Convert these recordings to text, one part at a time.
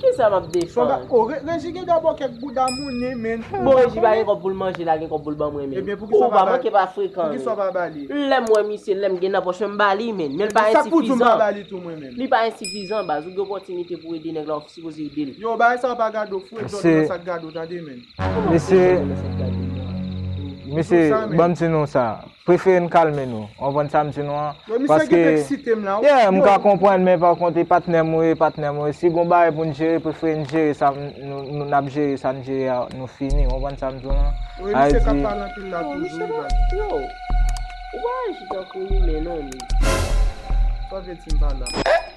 Kisa map defann. Oh reji gen dabò kèk bouda moune menn. Bon reji pa gen kòb poul manje la gen kòb poul banmwen menn. Ebyen poukisa ou pa manke pa frekan menn. Poukisa ou pa bali. Lèm wè misye lèm gen nan pòch menm bali menn. Menl pa ensifizan. Sak pou di ou pa bali tou mwen menm. Li pa ensifizan baz ou gen opòtinite pou ede nèg la ou sipoze edel. Yo bagay sa yo pa gade ou fwèt jòn ou wè sak gade ou tande menn. Mesye mesye banm ti non sa. Prefere n kalme nou. W konprann sa m di nou an? Yo misye gen pou eksite m la wi. Yeah, m ka konprann men pa kont e patnè m ou ye, patnè m ou ye. Si gon bagay pou n jere, prefere n jere sa n ap jere sa n jere a nou fini. W konprann sa m di w lan? Wi misye k ap pale anpil la toujou wi baz. Yo, ou pa aji tankou imen non Mid. Sa w vle di m pa la?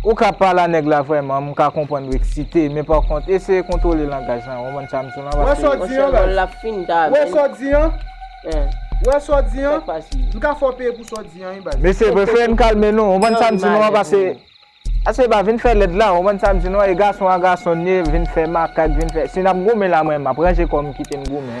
Ou ka pa la nèg la vrèman m ka konprann ou eksite men pa kont eseye kontwole langaj lan ou konprann sam di w lan paske Wè sa w di an baz Wè sa w di an Wè sa w di an M ka fè w peye pou sa w di an wi baz. Mesye prefere n kalme nou ou konprann sam di nou an paske Ase e pa vin fè lèd la ou konprann sam di nou an e gason a gason n ye vin fè makak vin fè si nap goumen la mwen map ranje kò m kite n goumen.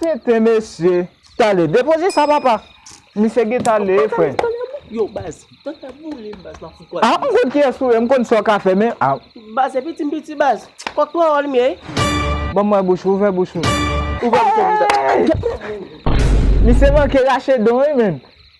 Tenten mesye. Tale depoze sa papa. Misye gen tale e fre. Yo baz. Tenten boule m baz. A m konn ki es ou e m konn sa w ka fe men. Baz e piti m piti baz. Kok pran wòl m ye. Ban mwen bouch ou. Ouvè bouch ou. Ouvè bouch ou. Misye manke rache don e men.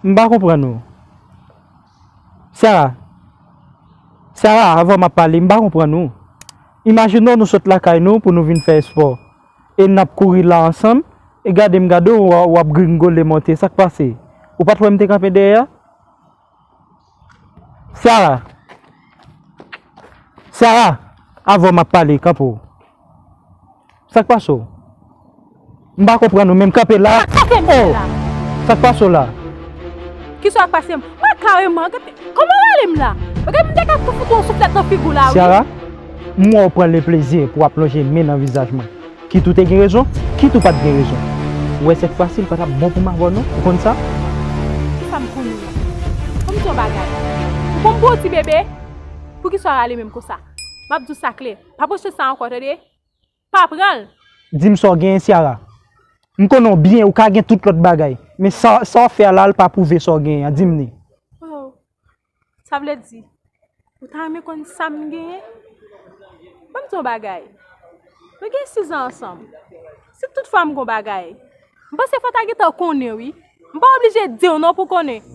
M pa konprann ou. Sarah, Sarah avan m ap pale m pa konprann ou. Imajine w nou sot lakay nou pou nou vin fè espò e n ap kouri la ansanm e gade m gade w w ap gringole monte sa k pase? Ou pa t wè m te kanpe dèyè a? Sara! Sara! Avè w m ap pale, kanpe w. Sa k pase w? M pa konprann ou menm, kanpe la! Sa k pase m menm la? Oh! Sa k pase w la? Ki sa k pase m? Mwen kareman, gade kòman w ale m la! Gade m te ka fout ou yon souflèt nan figu w la wi! Sara! M wè w pran le plezi pou w ap lonje men nan vizaj mwen. Kit ou te gen rezon, kit ou pa t gen rezon. Ou wè sèt fwa si l pa t ap bon pou m avè w non, ou konn sa. Ki sa m konn ou? Fò m di w yon bagay. Ou konn m pou yon ti bebe? Poukisa w rale menm konsa? M ap di w sa klè, pa pwoche sa ankò tande. Pa pran l! Di m sa w genyen Ciara. M konnen w byen, ou ka gen tout lòt bagay, men sa w fè a la a l pa pwouve sa w genyen an, di m ni. Oh! Sa vle di, ou ta renmen konn sa m genyen? Ban m di w yon bagay, nou gen sizan ansanm. Si tout fwa m gen yon bagay, m panse fò w ta gentan konnen wi. M pa oblije di w non pou w konnen.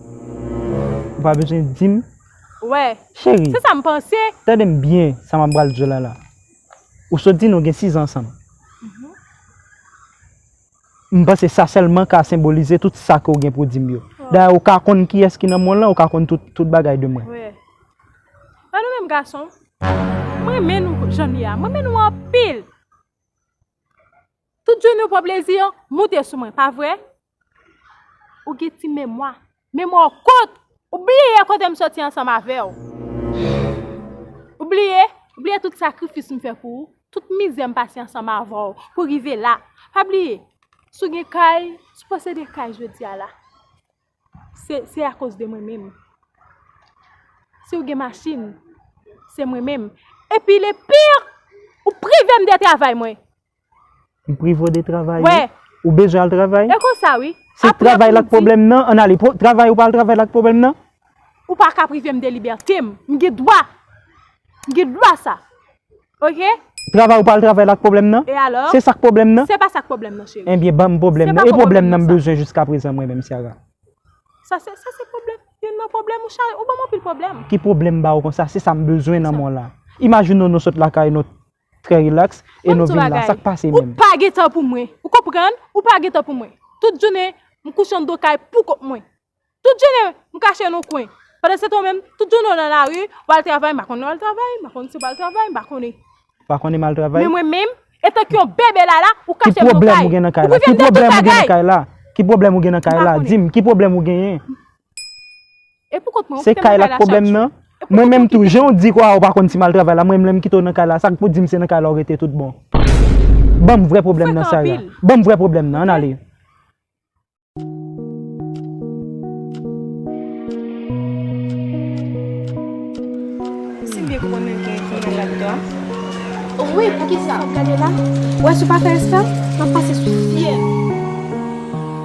Ou pa bezwen di m? Wè, se sa m panse. Cheri, tande m byen sa m ap pral di w la la. Ou sot di nou gen sizan ansanm. M panse sa sèlman ka senbolize tout sa ke w gen pou di m yo. Dayè, ou ka konn kiyès ki nan monn lan, ou ka konn tout bagay de mwen. Wè. An nou menm gason, m renmen nou jan n ye a. M renmen nou anpil. Tout jounen ou pran plezi an, moute sou mwen, pa vre? Ou gen ti memwa. Men mwen w kont! Ou bliye kote m soti ansanm avè w? Ou bliye? Ou bliye tout sakrifis m fè pou ou? Tout mizè m pase ansanm avè w pou rive la? Pa bliye, si w gen kay, si w posede kay jodi a la, se akoz de mwen menm. Si w gen machin, se mwen menm. Epi le pire, ou prive m de travay mwen! M privo de travay wi. Ou bezwen al travay? E konsa wi. Se travay la k pwoblèm nan? An n ale. Travay ou pa al travay la k pwoblèm nan? Ou pa ka prive m de libète m. M gen dwa. M gen dwa sa. Ok? Travay ou pa al travay la k pwoblèm nan? E alò? Se sa k pwoblèm nan? Se pa sa k pwoblèm nan cheri. Enbyen ban m pwoblèm nan. E pwoblèm nan m bezwen jiska prezan mwen menm Ciara? Sa se pwoblèm. Youn nan pwoblèm ou cheri. Ou ban m anpil pwoblèm. Ki pwoblèm m ba ou konsa? Se sa m bezwen nan mwen la. Imajine w nou sot lakay nou. Trè relax e nou vin la sak pase menm. Ou pa gen tan pou mwen. Ou konprann? Ou pa gen tan pou mwen. Tout jounen m kouche andan kay pou kont mwen. Tout jounen m kache nan yon kwen. Pandansetan ou menm, tout jounen w nan lari, w al travay, m pa konnen w al travay, m pa konnen si w pa al travay, m pa konnen. Ou pa konnen m al travay? Men mwen menm, etan k yon bebe lala, ou kache m nan kay. Ki pwoblèm ou gen nan kay la? Ki pwoblèm ou gen nan kay la? Ki pwoblèm ou gen nan kay la? Di m, ki pwoblèm ou genyen? Se kay la k pwoblèm nan? Mwen menm tou, jan w di kwa ou pa konn ti mal travay la, mwen menm lè m kite w nan kay la, sa k pou di m se nan kay la ou rete tout bon? Ban m vrè pwoblèm nan Sara, ban m vrè pwoblèm nan, ann ale. Si m byen konprann menm gen yon fimèl la dedan an? Wi, poukisa? Gade la, w wè si w pa fè espre, m ap pase sou fye l.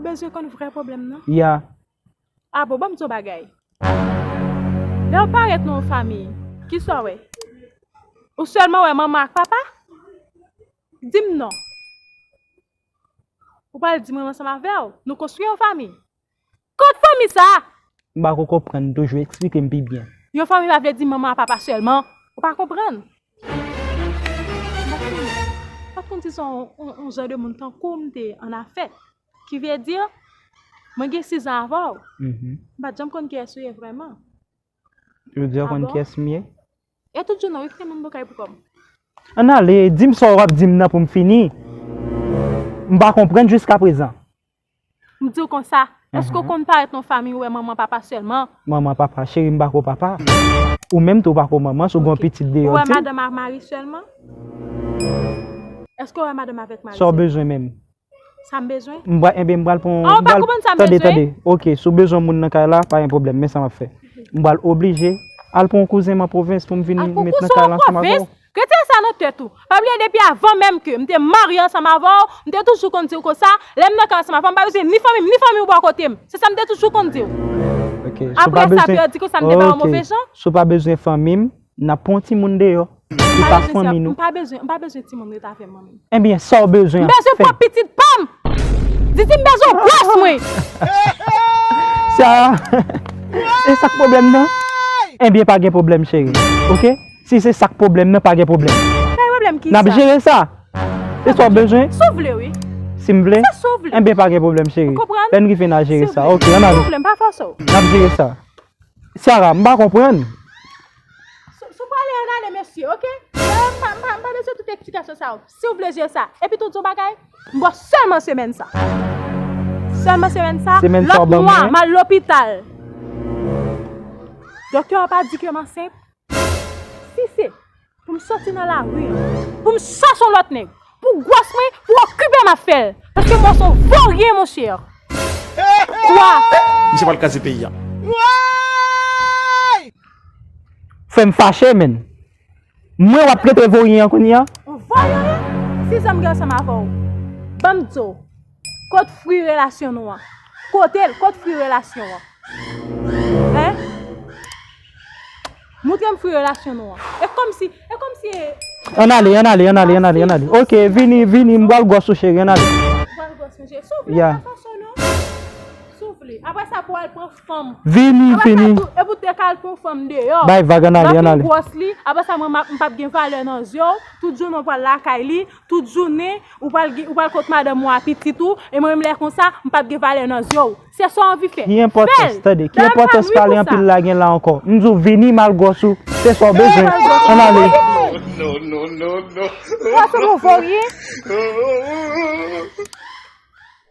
Ou bezwen konn vrè pwoblèm nan? Ya. A bon, ban m di w yon bagay. Lè w parèt nan yon fanmi, ki sa w wè? Ou sèlman wè manman ak papa? Di m non. Ou pral di m ou ansanm avè w, nou konstwi yon fanmi. Kot fanmi sa a? M pa ko konprann toujou, eksplike m pi byen. Yon fanmi pa vle di manman ak papa sèlman. Ou pa konprann. Maksimo, ou pa t konn si se yon jan de moun tankou w m te an afè. Ki vle di, mwen gen sizan avè w. M pa t janm konn kiyès ou ye vrèman. Jodi a ou konn kiyès m ye? E tout jounen wi kite moun bo kay pou kòb. Ann ale, di m sa w ap di m nan pou m fini. M pa konprann jiskaprezan. M di w konsa, èske w konn parèt nan yon fanmiy ou wè manman papa sèlman? Manman papa? Cheri m pa ko papa. Ou menm tou ou pa ko manman si w gen yon pitit deyò w di m. Ou wè madanm ak mari sèlman? Èske w wè madanm avèk mari sèlman? Sa w bezwen menm? Sa m bezwen? M bra, enben m pral pran yon, m pral. A ou pa konprann sa m bezwen? Tande, tande, ok, si w bezwen moun nan kay la, pa gen pwoblèm, men sa m ap fè. M pral oblije al pran yon kouzen m an pwovens pou m vin met nan kay la ansanm avè w. Al pran yon kouzen w an pwovens? Retire sa nan tèt ou. Pa bliye depi avan menm ke m te marye ansanm avè w, m te toujou konn di w konsa, lè m nan kay ansanm avè w, m pa bezwen ni fanmi m, ni fanmi w bò kote m. Se sa m te toujou konn di w. Ok, si w pa bezwen. Aprè sa, pè a di konsa m te bay yon move jan? Ok, si w pa bezwen fanmi m, Nap pran yon timoun deyò ki pa fanmi nou. Mpa bezwen, mpa bezwen timoun ret avèm mwen menm. Ebyen Saw bezwen ap fè. Mbezwen pran pitit pam! Didi mbezwen w gwòs mwen! Sarah, esak pwoblèm nan? Ebyen pa gen pwoblèm cheri ok si se sak pwoblèm nan pa gen pwoblèm. Pa gen pwoblèm kisa? Nap jere sa! Se sa w bezwen? Si w vle wi. Si m vle? Se si w vle. Ebyen pa gen pwoblèm cheri. Ou konprann? Lè n rive na jere sa ok. Ann ale. Si w vle mpa fòse w. Nap jere sa. Sarah, m pa konprann. Sou pale an ale mesye ok. Sarah, m pa bezwen tout eksplikasyon sa yo. Si w vle jwe sa. Epi tou yon bagay, m bo selman semèn sa. Selman semèn sa. Semèn sa w ban mwen. Lot mwa, m al lopital. Doktè a pa di ke m ansent. Si se. Pou m soti nan lari an. Pou m chache yon lòt nèg. Pou gwòs mwen, pou okipe m ap fè l. Paske mwen s on voryen mon chè. Kwa. Misye pral kraze peyi a. Woyy! Frè m fache menn. Mwen w ap trete voryen an kounye a? Ou voryen wi? Si zanm gen ansanm avè w. Ban m di w. Kot fri relasyon nou an. Kotel kot fri relasyon an. Hein. Moutrem fri relasyon nou an. E komsi e komsi e. An ale an ale an ale an ale an ale. Ok vini vini m bal gos ou cheri an ale. Bal gos mwen cheri. Souple pa fè sa non. Souple. Apre sa pou al pran fanm. Vini vini. Apre sa e pou te kal pran fanm deyo. Bay vag an ale an ale. Map vin gros li. Apre sa mwen m pap gen valè nan zyew. Tout jounen ou pral lakay li. Tout jounen, ou pral gen, ou pral kot madanm ou a pitit ou, e mwen menm lè konsa, m pap gen valè nan zye w. Se sa w anvi fè. Ki enpòtans, tande, ki enpòtans pale anpil la gen la ankò? M di w vini mal gwòs ou, se sa w bezwen. Ann ale. Pwason nou vo ryen.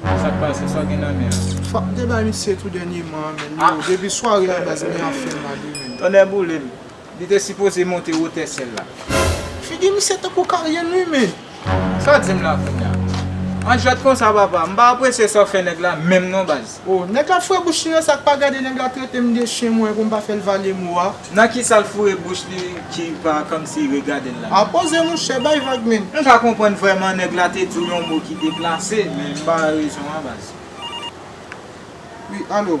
Bon sak pase sa w gen nan men an. Fok mte bay misye tou dènye man an menn yo depi sware la baz mwen an fèm mal wi menn. Tonnè boulem. Li te sipoze monte wotè syèl la. Figi misye tankou Karyènn wi menn. Saw dim la kounya. An jwèt konsa papa. Mpa apresye sa w fè nèg la menm non baz. Oh nèg la fre bouch li nan sa k pa gade nèg la tretem de chyen mwen pou m pa fè l vale mo a. Nan kisal foure bouch li ki pa kòmsi regadel la. Ah poze mouche bay vag menn. M pa konprann vrèman nèg la te diw yon mo ki deplase men m pa wè rezon an baz. Wi alo.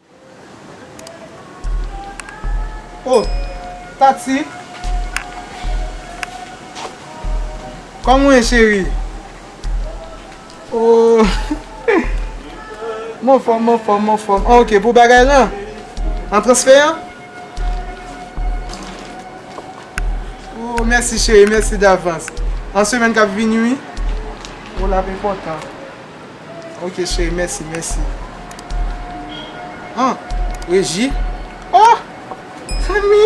Oh Tatie Kòman ou ye cheri Oh M anfòm m anfòm m anfòm An ok pou bagay lan An transfè an Oh mèsi cheri mèsi davans An semèn k ap vini wi Oh l ap enpòtan Ok cheri mèsi mèsi. An Reji oh Fanmi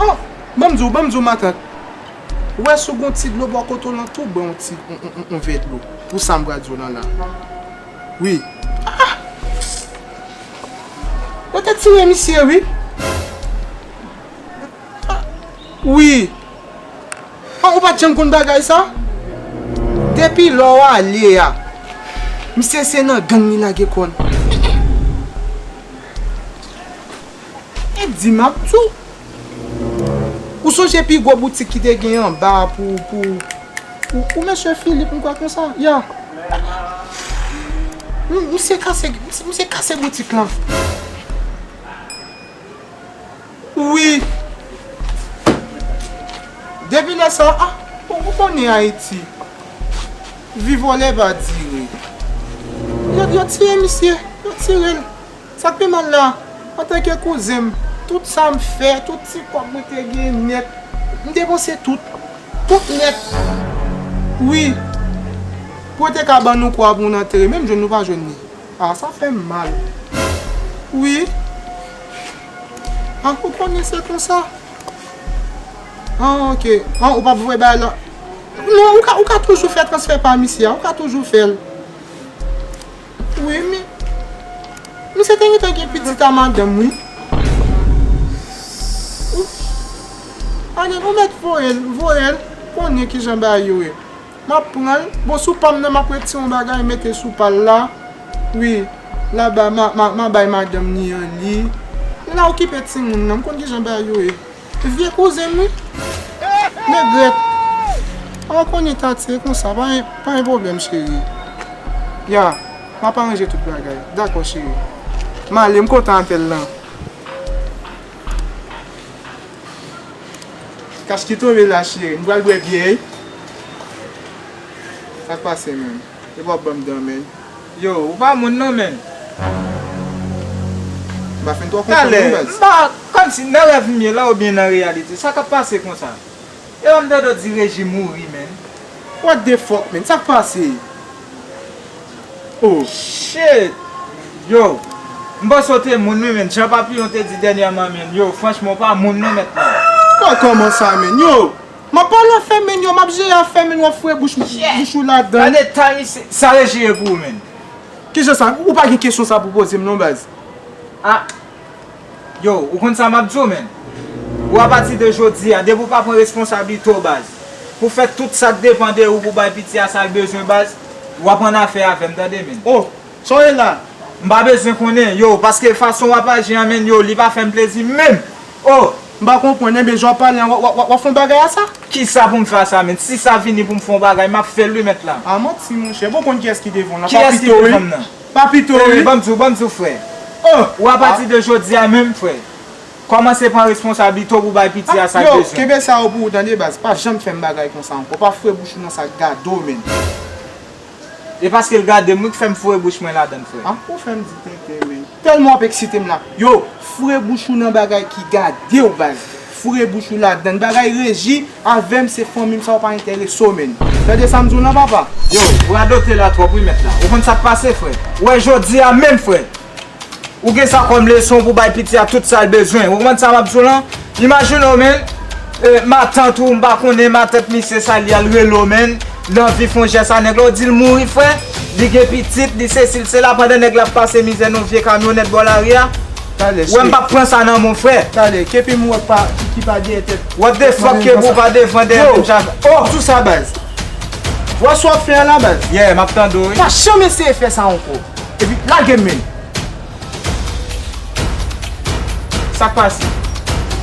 oh banm di w banm di w matant ou wè si w gon ti dlo bò kote w lan tou ban w ti yon vè dlo pou sa m pral di w lan la wi ah yo te tire misye wi. Ah wi Ah ou pat janm konn bagay sa Depi lè w ale a Misye se nan gang li lage kò l E di m ap di w Ou sonje pi gwo boutik ki te gen anba a pou pou pou mesye Philippe m kwè konsa ya Misye kase misye kase boutik lan. Wi Depi lè sa a ou konnen Ayiti vi vòlè va dire Yo tiye misye Yo tire l Sa k pi mal la antanke kouzen m tout sa m fè tout ti kòb mwen te gen nèt m depanse tout Tout nèt Wi Pou yo te ka ban nou kwa pou nou antere menm jwenn nou pa jwenn li A sa fè m mal Wi. Ah ou konnen se konsa. Ah ok. Ah ou pap voye bagay la. Non ou ka ou ka toujou fè transfè pam isi a. Ou ka toujou fèl. Wi men. Misye te gentan gen pitit a madanm wi. Ou Anel ou mèt voyel voyel konnen kijan bagay yo ye. Map pran l. Bon sou pam nan map retire yon bagay mete sou pal la wi la ba ma bay madanm ni an li la okipe timoun nan m konn kijan bagay yo ye vye kouzen m wi negrèt oh konye tatie e konsa pa gen pwoblèm cheri ya map aranje tout bagay dako cheri male m kontan avèl lan. Kas ki tonbe la cheri, m pral bwè byè wi. Sak pase menm? Epa wap banm dan menn. Yo ou pa moun non menn. M pa fin twò konprann non baz. Talè m pa konn si nan rèv m ye la oubyen nan reyalite. Sa kap pase konsa? E lòm dodo di reji mouri menn. What the fuck menn sak pase oh. Shit yow m panse w te moun wi menn jan papillon te di dènyèman menn yow franchman w pa moun non mèt la. Bon kòman sa menn yow map pale afèm menn yow map jere afèm menn wap foure bouch ou ladann. Gade tan isi sa reji ye pou ou menn. Kijan sa ou pa gen kesyon sa pou poze m non baz. Ah. Yo, ou konn sa map diw men. Ou a pati de jodi a, depi ou pa pran responsablite w baz, pou fè tout sa k depan de ou pou bay piti a sa l bezwen baz, wap annafè avèm tande men. Oh, sa w ye la? M pa bezwen konnen, yo, paske fason wap aji an men, yo, li pa fèm plezi menm. Oh! M pa konprann, enben jan w pale an wap fè yon bagay a sa? Kisa pou m fè a sa men? Si sa vini pou m fè yon bagay, map fè l wi mèt la. Ah manti monchè, bon w konn kiyès ki devan w la? Kiyès ki devan m nan? Pa pito wi. Ban m di w, ban m di w frè. Oh! Ou apati de jodi a menm frè. Kòmanse pran responsablite w pou w bay piti a sa l bezwen. Yo! Kenbe sa yo pou ou tande baz. Pa janm fè m bagay konsa ankò. Pa foure bouch ou nan sa k gade w menm. E paske l gade m wi k fè m foure bouch mwen ladan l frè. Ah! Ou fè m di tenten menm. Tèlman w ap eksite m la. Yo! Foure bouch ou nan bagay ki gade w baz. Foure bouch ou ladann bagay reji avèm se fanmim sa ou pa entèresew menn tande sam diw lan papa. Yow ou radote la trop wi mèt la ou konn sak pase frè ou wè jodi a menm frè ou gen sa kòm leson pou bay piti a tout sal bezwen ou konn sa map diw lan imajine w menn matant ou m pa konnen matant misye sa li al rele w menn li anvi fon jès a nèg la ou dil mouri frè li gen pitit li sesi li sela pandan nèg la ap pase mizè nan yon vye kamyonèt bò lari a. Talè Wè m pap pran sa nan mon frè. Talè Kepi m wè pa ki pa dèyè tèt. What the fuck Kepi w pa devan dèyè menm jan avè Oh! Sou sa baz. Wè sa w ap fè a la baz. Yeah map tande w wi. Pa janm eseye fè sa ankò. Epi lage m menm. Sak pase?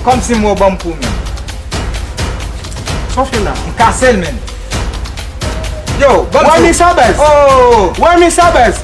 Kòm si m wè w banm kou menm. Sa w fè la? M kase l menm. Yo banm tou. Wè men sa baz. Oh! Wè men sa baz.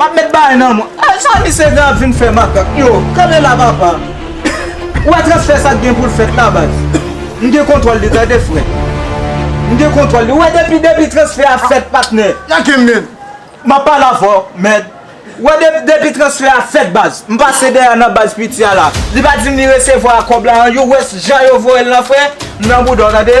Map met baay nan mwen. Eeh sa misye gen ap vin fè makak yo. Kanpe la papa. Ou wè transfè sa gen poul fèt la baz. M gen kontwòl li tande frè. M gen kontwòl li. Ou wè depi depi transfè a fèt patnè. Nan kem menn. Map pale avèw mèd. Ou wè depi depi transfè a fèt baz. M pase dèyè nan baz piti a la. Li pa dim li resevwa kòb la an. Yo wè jan yo voyel nan frè. M nan boudaw tande.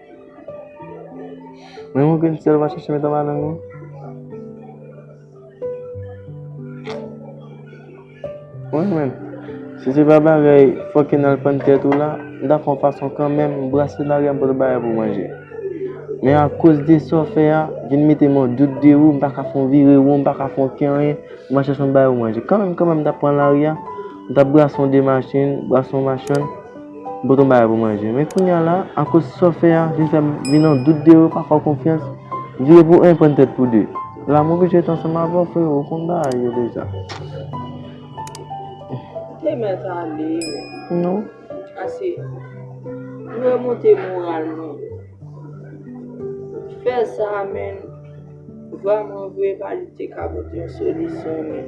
Mwen mwen gen sèl mwen chèche mèt anba lanmou. Mwen mwen. Si se pa bagay fòk en al pann tèt ou la, m ta fon fason kan menm brase bagay m pou te bay pou manje. Men a koz de sa w fè a, vin mete mwen dout de ou, m pa ka fon vire won, m pa ka fon ken anyen, m a chèche m bay ou manje. Kan menm kan menm m ta pran lari a, m ta brase yon de machin, brase yon machann. M pot yon bagay pou manje. Men kounya la, akoz sa w fè a, vin fè m vin nan dout de ou, pa fè w konfyans. Vire pou 1, pran tèt pou 2. La m oblije ret ansanm avè w frero, ou konn bagay yo deja. Te mèt ale. Non. Ase. M remonte moral mwen. Fè sa men, vwa mwen vre pa li te ka pote yon solisyon men.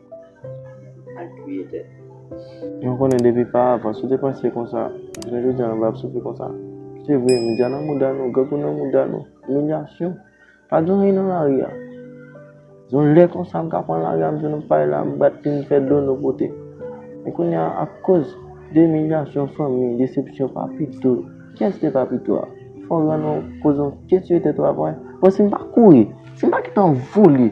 Al touye tèt ou. Mwen konnen depi pa avan si w te panse konsa, jounen jodi an ou pa t ap soufri konsa. Se vre, medya nan mouda nou, grangou nan mouda nou, imilyasyon. Pa gen anyen nan lari a. Yon lè konsa m ka pran lari a m jwenn yon pay la m bat li m fè dono pote. Men kounye a akoz de imilyasyon fanmi, desepsyon papito, kyès te papito a? Fò w rann ou koze yon kesye de travay. Bon si m pa kouri, si m pa gentan vole.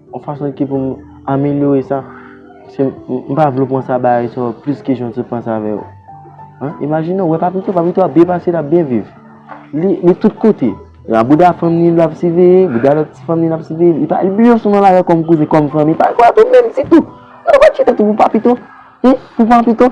Yon fason ki pou m amelyore sa, se m pa vle w panse a bagay sa yo plis ke jan w te panse avè yo. Imajine w wè Papito, Papito ap byen pase, l ap byen viv. Li tout kote. Nan bouda fanm li, l ap siveye, bouda lòt ti fanm li, l ap siveye li. Li bliye w sou nan lari kòm kouzen, kòm fanmi. Papito ap byen viv. Ou pa chita tou pou Papito? Pou Papito?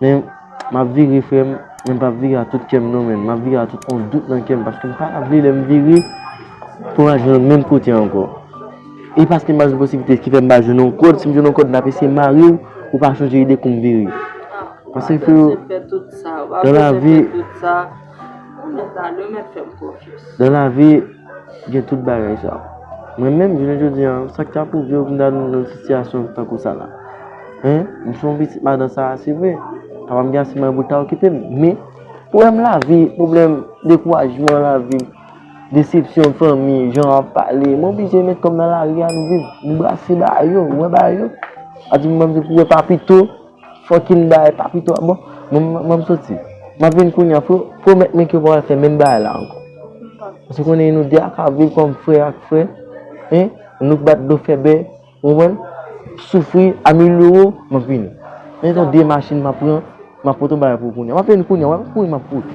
Men map vire frèm, men mpap vire a tout kèm non men, map vire a tout on dout nan kèm paske mpa ta vle lèm vire pou al jwenn menm kote ankò. E paske mpa jwenn posiblite ki fèm pa jwenn on kòd, sim jwenn on kòd map eseye marew pou pa chanje ide koum vire. Paske freo nan lavi. Ou mèt la li ou mèt fèm konfyans. Nan lavi gen tout bagay sa. Mwen menm jounen jodi an sa k ta pwouve w m ta nan yon sitiyasyon tankou sa la? Hein m se yon pitit madan sa a se vre papa m gen ase mwayen pou l ta okipe m men pwoblèm lavi pwoblèm dekourajman lavi desepsyon fanmi jan yo ap pale m oblije met kò m nan lari a m viv m brase bagay yo m wè bagay yo a di m m se pou w wè pa pito. Fucking bagay pa pito a bon mwen map soti map vin kounya fo pwomèt mwen ke ou pa pral fè menm bagay la ankò paske konnen nou 2 a ka viv kòm frè ak frè hein nou k bat dlo fè bè ou konprann soufri a mil euro map vini men son 2 machin map pran map pote yon bagay pou ou kounya map vin kounya wap kouri map kouri.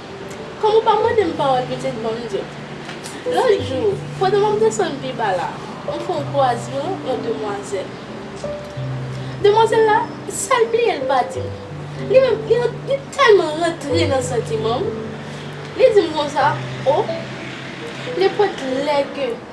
Kòm ou pa mande m pawòl pitit ban m di w. Lòt jou, pandan m ap desann pi ba la, m fè yon kwazman yon demwazèl. Demwazèl la, sa l bliye l pa di m. Li menm, li ran, li tèlman rantre nan santiman m, li di m konsa, O, nenpòt lè ke.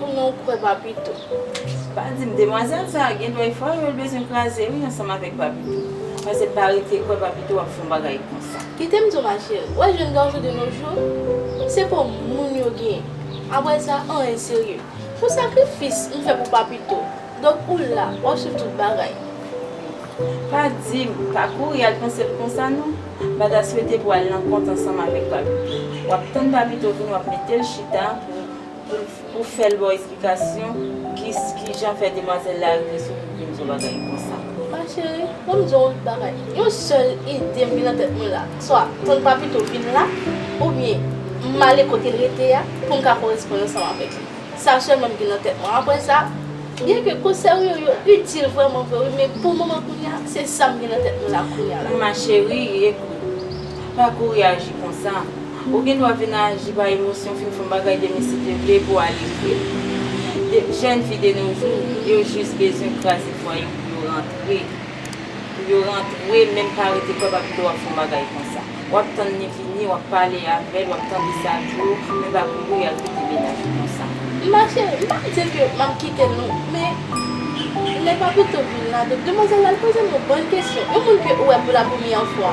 Ou menm ou kwè papito. Pa dim demwazèl sa gen dwa e fwa yol bezwen kraze wi ansanm avèk papito. Pase pa rete kwè papito wap fon bagay konsa. Kitem diw ma chérie, wè jèn garçon de nos jours se pò moun yo gen, aprè sa anyen serye. Pou sakrifis m fè pou papito, donk ou la wap swiv tout bagay. Wi. Pa dim, pa kouri al pansel konsa non. Mpa ta swete pou al nan kont ansanm avèk papito. Wap tann papito vini wap metel chita pou. Pou fèl baw esplikasyon kijan fè demwazèl la rive sou kout menm jan bagay konsa. Ma chérie, banm diw yon bagay, yon sèl idem gen nan tèt mwen la, swa ton papito vin la, oubyen male kotel rete a poum ka koresponn ansanm avèk li, sa sèlman mgen nan tèt mwen, aprè sa, byen ke konsèy ou yo yo itil vrèman vre wi men pou moman kounye a se sam gen nan tèt mwen la kounye a la. Ma chérie, ekout, pa kouri aji konsa. Ou gen dwa vin aji pa emosyon, fin fè yon bagay de mesi te vle epi w al ekri l. Jèn fi de no jou, yo jis bezwen kraze fwaye yo pou yo rantre. Pou yo rantre, menm pa rete kwè pa vle w ap fè yon bagay konsa. W ap tann li vini, w ap pale avè l, w ap tande sa l di w, men pa kouri al kite mennaj ou konsa. M pa fè, m pa di ke m ap kite l non, men lè Papito vin la, de demwazèl la al poze m yon bann kesyon. Yon moun ke ou wè pou la premyè fwa.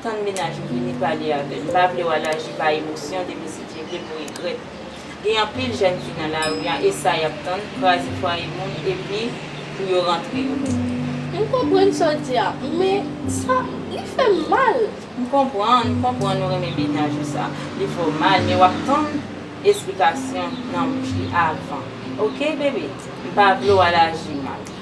Tann mennaj ou vini pale avè l. M pa vle w al aji pa emosyon depi si Dye vle pou regrèt. Gen anpil jèn fi nan lari an e sa y ap tann, kraze fwaye moun epi pou yo rantre yo menm. M konprann sa w di a, men sa, li fè m mal. M konprann, m konprann ou renmen mennaj ou sa. Li fè w mal men w ap tann esplikasyon nan bouch li avan. Ok bebe? M pa vle w al aji mal.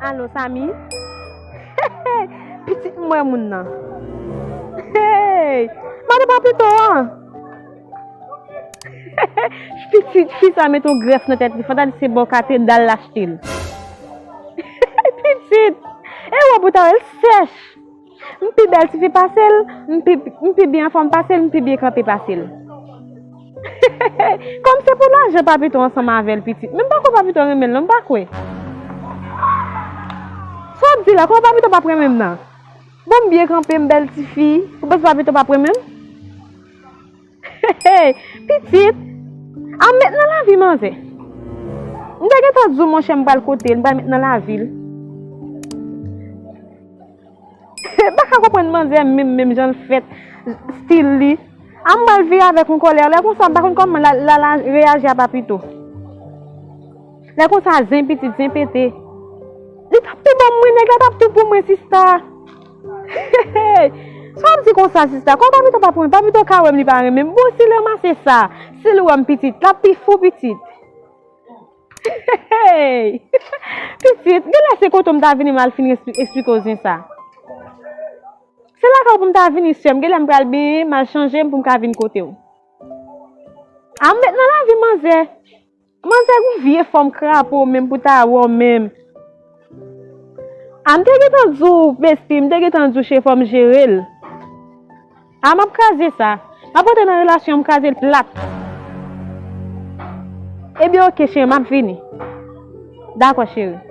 Alo Samy Hey pitit mwen moun nan Hey Mande papito an Hey pitit fi sa met yon grèf nan tèt li fanta di se bò katedal l achte l Hey pitit E wòb ou ta wè l sèch M pi bèl tifi pase l M pi byen anfòm pase l M pi byen kanpe pase l Hehehehe Kòm se pou lajan Papito ansanm avè l pitit Men m pa kwè Papito renmen l non m pa kwè Sa w ap di la kòman Papito pap renmen m nan Bon m byen kanpe m bèl tifi Ou panse Papito pap renmen m? Hey pitit a met nan lavi manzè. M te gentan di w monchè m pral kote l, m pral met nan lavi l. M pa ka konprann manzè menm menm jan l fèt, stil li. A m pral vire avèk yon kòlè, lè konsa m pa konn kòman Lala reyaji a Papito. Lè konsa zen pitit, zen pete. Li t ap tou ban mwen, nèg la t ap tou pou mwen sista. Heheheh sa wap di konsa sista kòw papito pa pou mwen papito ka wèm li pa renmenm bon sil ranmase sa sil wèm pitit lap pi fou pitit heheheh pitit genlè se kote ou m ta vini mal fin esplikew zen sa se lakay ou pou m ta vini sèm genlè m pral byen mal chanjem pou m ka vin kotew a m met nan lavi manzè Manzè gon vye fòm krapo menm pou ta wè w menm a m te gentan di w besti m te gentan di w che fò m jere l a m ap kraze sa m ap rantre nan relasyon an m kraze l plat ebyen ok cheri m ap vini dakò cheri.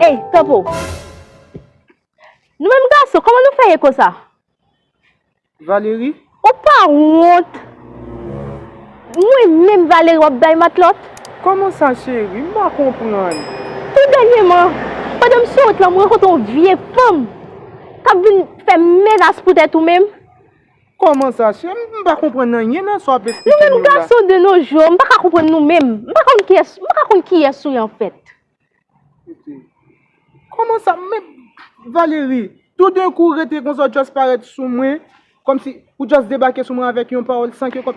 Ey topo Nou menm gason kòman nou fè ye konsa Valery Ou pa wont Mwen menm Valery wap bay matlòt Kòman sa cheri m pa konprann Tou dènyeman pandan m sou wout lan m rankontre yon vye fanm kap vin fè menas pou tèt ou menm. Kòman sa chè m? M pa konprann anyen nan sa w ap esplike m yo la. Nou menm gason de no jou, m pa ka konprann nou menm. M pa konn kiyès, m pa ka konn kiyès ou ye an fèt. Titi, Kòman sa? Men, Valérie, tou den kou w rete konsa w just parèt sou mwen, kòmsi, ou just debake sou mwen avèk yon pawòl san ke kòm,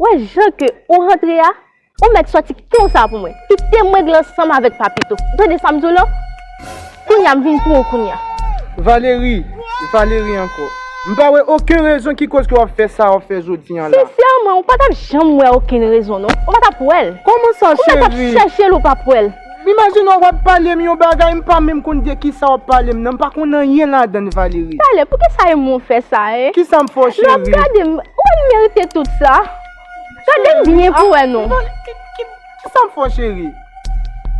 Wè jan ke ou rantre a, ou mèt sòti konsa pou mwen. Kite mwen glan san m avèk Papito. Ou tande sa m di w lan? Kounye a m vin pou ou kounye a. Valérie, Valérie ankò. M pa wè oken rezon ki koz ke w ap fè sa w ap fè jodi an la. Sensèman, ou pa t ap janm wè okenn rezon non. Ou pa t ap wè l. Kòman sa cheri? Ou mèt ap chèche l ou p ap wè l. Imajine w wap pale m yon bagay m pa menm konn de kisa wap pale m nan m pa konn anyen ladann Valérie. Pale, pouki sa e mou fè sa e? Kisa m fè w cheri? Lè wap gade m, ou wè m merite tout sa? Gade m byen pou wè non. Kisa m fè w cheri?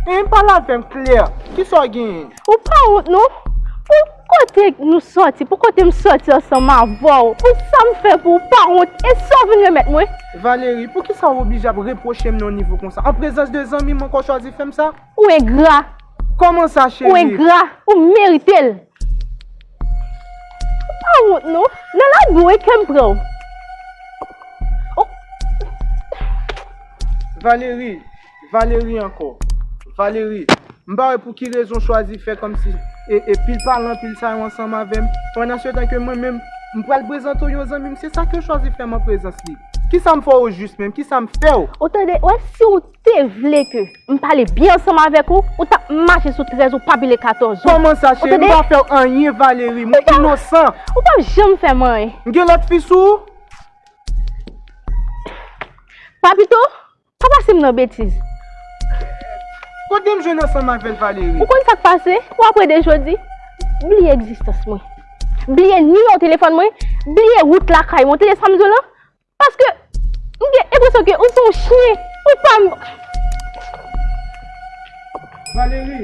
Hein pale avè m klè, kisa w genyen? Ou pa wont non? Pou kote nou soti, pou kote m soti ansanm avè w, pou sa m fè pou ou, ou pa wont? E sa w vin remèt mwen? Valery, poukisa w oblije ap repwoche m nan nivo konsa? An prezans de zanmi m ankò w chwazi fè m sa? Ou engra! Kòman sa cheri? Ou engra! Ou merite l! Ou pa wont non? Nan lagè w e kè m pran w. Valery! Valery ankò. Valery, M pa wè pou ki rezon w chwazi fè kòmsi e pil pa lan pil sa yo ansanm avè m, pandansetan ke mwen menm, m pral prezante w yon zanmi m, se sa ke w chwazi fè m an prezans li. Kisa m fè w ojis menm? Kisa m fè w? Ou tande, ou wè si w te vle ke m pale byen ansanm avèk ou, ou t ap mache sou 13 ou pa pile 14 ou. Kòman sa cheri? M pa fè w anyen Valery, mwen inosan. Ou pa p janm fè m anyen. M gen lòt fi sou ou? Papito, Pa pase m nan betiz. Kote m jwenn ansanm avèl Valery? Ou konn sak pase? Ou apre de jodi? Bliye egzistans mwen. Bliye nimewo telefòn mwen. Bliye wout lakay mwen. Ou tande sam di w lan? Paske m gen enpresyon ke ou se yon chyen. Ou pa m. Valery!